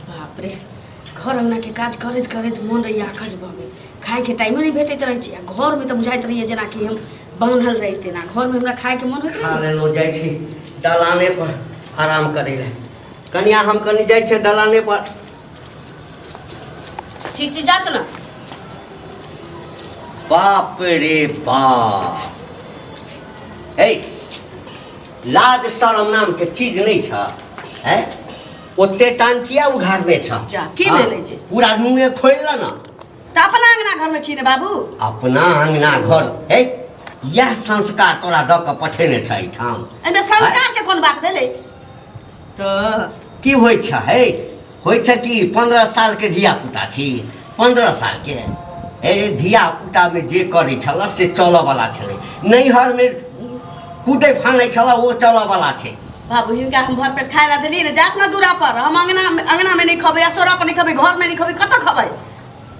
बाप रे घर अंगना के काज करैत करैत मोन रहैया अकज भऽ गेल खायके टाइमे नहि भेटैत रहै छै आ घरमे तऽ बुझाइत रहैया जेनाकि हम बान्हल रही तेना घरमे हमरा खायके मोन होइत खा रहैया लेलहुँ जाइ छी दलाने पर आराम करै लए कनिया हम कनि जाइ छियै दलाने पर ठीक छै जात ने बाप रे बाप ए लाज शरम नाम के चीज नहीं छ है ओते टांग किया उघारने छ जा, की हाँ, भेलै जे? पूरा मुंहे खोल ल ना तऽ अपना अंगना घरमे छी ने बाबू अपना अंगना घर है यह संस्कार तोरा द के पठेने छ एठाम एहिमे संस्कारके कोन बात भेलै तऽ की होइ छ हे होइ छ कि पन्द्रह सालके धियापुता छी पन्द्रह सालके हे धियापुतामे जे करै छलऽ से चलऽवला छलै नैहरमे कूदै फानै छलऽ ओ चलऽवला छै बाबू हिनका हम घर पर खाए ला देलियै ने जात ने दूरा पर हम अंगना अंगना में नहीं खबे असोरा पर नहीं खबे घर में नहीं खबे कत खबे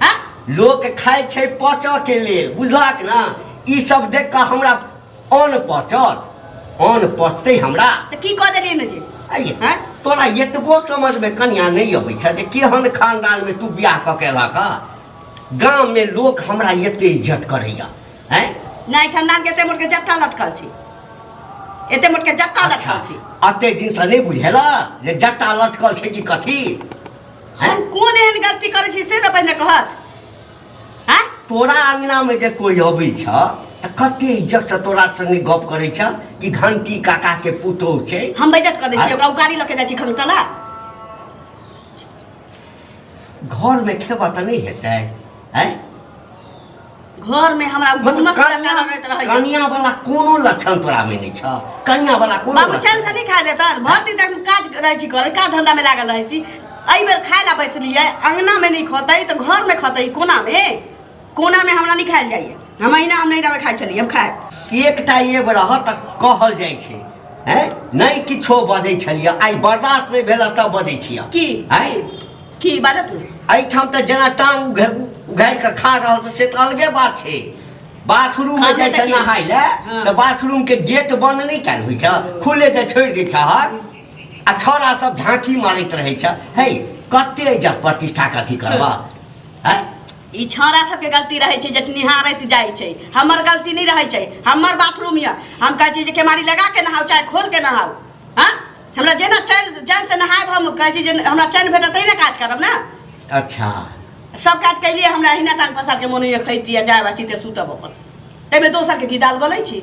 हाँ लोक खाइ छै पचऽके लेल बुझलक ने ई सब देख कऽ हमरा अन पचत अन पचतै हमरा तऽ की कऽ देलियै ने जे अये हैं? तोरा एतबो समझ में कन्या नहीं अबै छ जे केहन खानदान में तू बियाह क के एलक गाम में लोग हमरा एते इज्जत करैया हैं नहि खानदान के एते मोट के जट्टा लटकल छी एते मोट के जट्टा अच्छा लटकल छी अते दिन से नहीं बुझेला जे जट्टा लटकल छै कि कथी हैं हम कोन एहन गलती करै छी से ने पहिने कहत आ तोरा अंगनामे जे कोई अबै छ तऽ कते इज्जतसँ तोरा संगे गप करै छ कि घंटी काकाके पुतोह छै हम बैजत कऽ दै छी ओकरा उकारी लऽ के जाइ छी खन उठला घरमे खेबऽ तऽ नहि हेतै आँय घरमे हमरा मतलब घुमस कनिया लगैत रहैया कनिया वाला कोनो लक्षण तोरा में नहीं छ कनिया वाला कोनो बाबू लक्षण चैन से नहि खा देतन भर दिन तक काज रहै छी करै काज धंधा में लागल रहै छी एहि बेर खाय ला बैसलियै अङ्गनामे नहि खतै तऽ घरमे खतै कोनामे कोनामे हमरा नहि खायल जाइए हम अहिना हम नैहरामे खाइ छलियै हम खाय एकटा एब रहत तऽ कहल जाइ छै हैं नहि किछो बजै छलियै आइ बर्दाश्त नहि भेल तब बजै छियै की हैं की बाजऽ तू एहिठाम तऽ जेना टांग उघार उघार कऽ खा रहल छै से तऽ अलगे बात छै बाथरूम मे जाइ छै नहाय लए तऽ बाथरूम के गेट बंद नहि कयल होइ छै खुले तऽ छोड़ि दै छहक आ छोरा सब झांकी मारैत रहै छ हे कते इज्जत प्रतिष्ठा के अथी करबा हैं ई छौड़ा सबके गलती रहै छै जे निहारैत जाइ छै हमर गलती नहि रहै छै हमर बाथरूम यऽ हम कहै छी जे केमारी लगा के नहाउ चाहे खोल के नहाउ हँ हमरा जेना चैन चैन से नहायब हम कहै छी जे हमरा चैन भेटत तहिना काज करब ने अच्छा सब काज कैलियै हमरा अहिना टांग पसार के मोन होइए खैती आ जायब आ चिते सुतब अपन ताहिमे दोसरके की दाल बोलै छी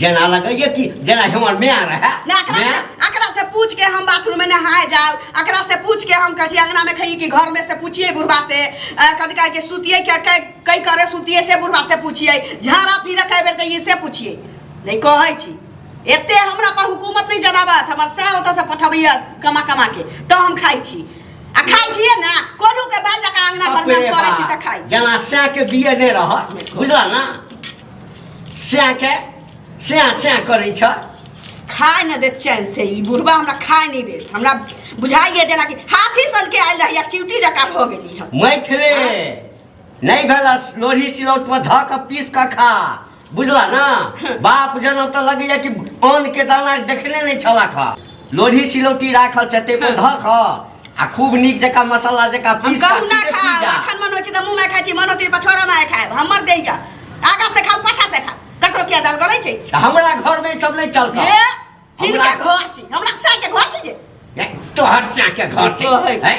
जेना लगैए कि जेना हमर माय रहै ना एकरा माय से- एकरा से पूछ के हम बाथरूम में नहाए जाओ एकरा से पूछ के हम कहे छी अंगना में खइए कि घर में से पूछिए बुढ़वा से अ, कथी कहे छै सुतिए के के कई करे सुतिए से बुढ़वा से पूछिए झाड़ा फिर कई बेर जाइए से पूछिए नहीं कहे छी एते हमरा पर हुकूमत नहीं जनाबत हमर से ओतऽ से पठबैया कमा कमा के तो हम खाइ छी आ खाइ छिए ना कोलू के बाल जका अंगना घर में हम करे छी तऽ खाइ छी जेना साँके बिये नहि रहत बुझल ने स्याके स्या स्या करै छ खाए न दे चैन से ई बुढ़वा हमरा खाए नहीं दे हमरा बुझाइए जेना कि हाथी सन के आयल रही चिवटी जका भ गेली हम मैथिले नहीं भेला लोढ़ी सिलौट पर धऽ कऽ पीस कऽ खा बुझला ना बाप जनम तऽ लगैया कि अन्न के दाना देखने नहीं छला खा लोढ़ी सिलौटी राखल छै तेको हँ। धऽ कऽ आ खूब नीक जकाँ मसाला जकाँ हम पीस कऽ कहू ना सीधे खा पी जा। अखन मन होइ छै तऽ मुँह में खाइ छी मन होती पछोरा में खाएब हमर दे जा आगा से खाउ पाछा से खाउ ककरो किया दाल गलै छै तऽ हमरा घरमे ई सब नहि चलतै ए, हिनका हमरा- घर छी हमरा साके घर छी जे तोहर चाके घर छै कहै। हैं?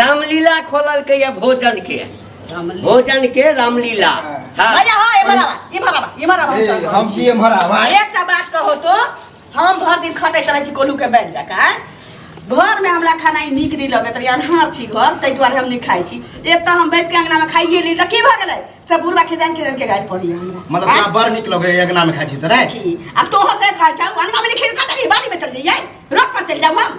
रामलीला खोलल के या भोजन के भोजन के रामलीला हाँ भैया हाँ इमहर आवा इमहर आवा इमहर आवा ए, हम की एम्हर आवा एकटा बात कहो तो हम भर दिन खटैत रहै छी कोलू के बैठ जकाँ घर में हमरा खाना ई नीक नहि लगैत रहै अन्हार छी घर ताहि दुआरे हम नहि खाइ छी एतऽ हम बैस के अंगना में खाइए ली तऽ की भऽ गेलै सब बुढ़वा खेदान खेदान के गाड़ि पड़ी हमरा मतलब आँय? तोरा बड़ नीक लगे अगना में खाइ छी तोरा की आ तोहर से खाइ छौ अंगना में नहि खेल कतऽ बाड़ी में चल जइयै रोड पर चल जाऊ हम